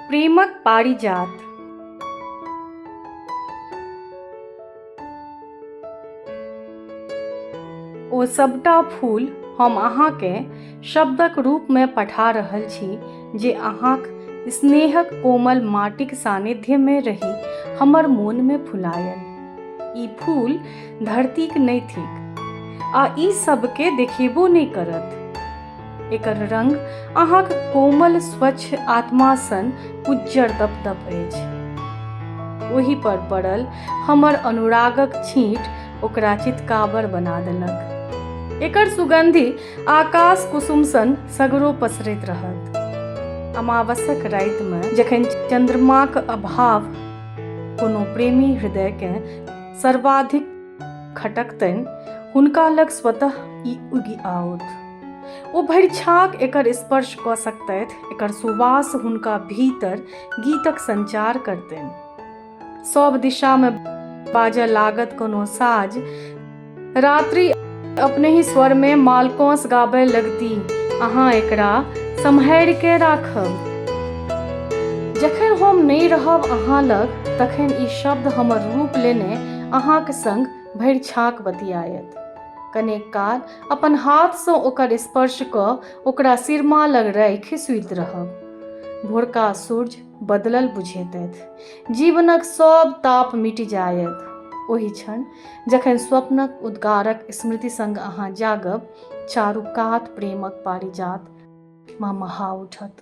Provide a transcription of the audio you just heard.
प्रेमक पारिजात ओ सभटा फूल हम अहाँकेँ शब्दक रूपमे पठा रहल छी जे अहाँक स्नेहक कोमल माटिक सानिध्यमे रही हमर मोनमे फुलायल ई फूल धरतीक नहि थिक आ ई सबके देखेबो नहि करत एकर रंग अहाँक कोमल स्वच्छ आत्मा सन उज्जर दप दप अछि ओहि पर पड़ल हमर अनुरागक छींट ओकरा चितकाबर बना देलक एकर सुगंधि आकाश कुसुम सन सगरो पसरैत रहत अमावसक रातिमे जखन चन्द्रमाक अभाव कोनो प्रेमी हृदयकेँ सर्वाधिक खटकतनि हुनका लग स्वतः ई उगि आओत ओ भरि छाक एकर स्पर्श कऽ सकतथि एकर सुवास हुनका भीतर गीतक संचार करतनि सब दिशा में बाजय लागत कोनो साज रात्रि अपने ही स्वर में मालकोस गाबय लगती अहाँ एकरा सम्हारि के राखब जखन हम नहि रहब अहाँ लग तखन ई शब्द हमर रूप लेने अहाँक संग भरि छाक बतियायत कनेक काल अपन हाथसँ ओकर स्पर्श कऽ ओकरा सिरमा लग राखि सुति रहब भोरका सूर्य बदलल बुझेतथि जीवनक सभ ताप मिटि जायत ओहि क्षण जखन स्वप्नक उद्गारक स्मृति संग अहाँ जागब चारू कात प्रेमक पारिजात ममहा उठत